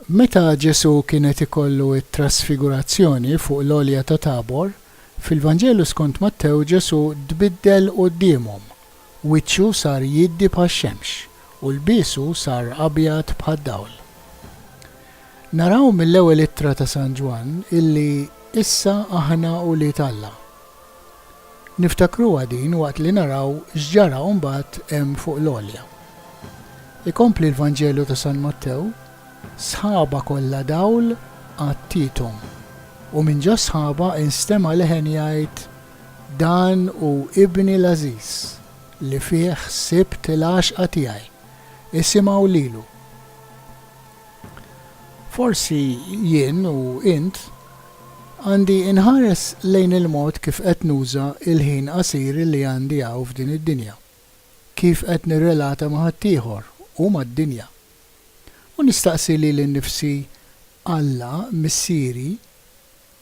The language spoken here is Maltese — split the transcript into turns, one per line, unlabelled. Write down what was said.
Meta Ġesù kien qed ikollu t-trasfigurazzjoni fuq l-Għolja ta' Tabor, fil-Vanġelu skont Mattew Ġesù tbiddel quddiemhom Wiċċu sar jiddi bħax-xemx, u lbiesu sar abjad bħad-dawl. Naraw mill-Ewwel Ittra ta' San Ġwann illi issa aħna ulied Alla. Niftakruha din waqt li naraw x'ġara mbagħad hemm fuq l-għolja. Ikompli l-Vanġelu ta' San Mattew, Sħaba kollha dawl għattiethom, u minn ġo s-sħaba instema' leħen jgħid, Dan hu Ibni l-għażiż, li fih sibt il-għaxqa tiegħi, isimgħu lilu. Forsi jien u int għandi nħares lejn il-mod kif qed nuża l-ħin qasir li għandi hawn f'din id-dinja, kif qed nirrelata ma' ħaddieħor u mad-dinja. U nistaqsi lili nnifsi, Alla, Missieri,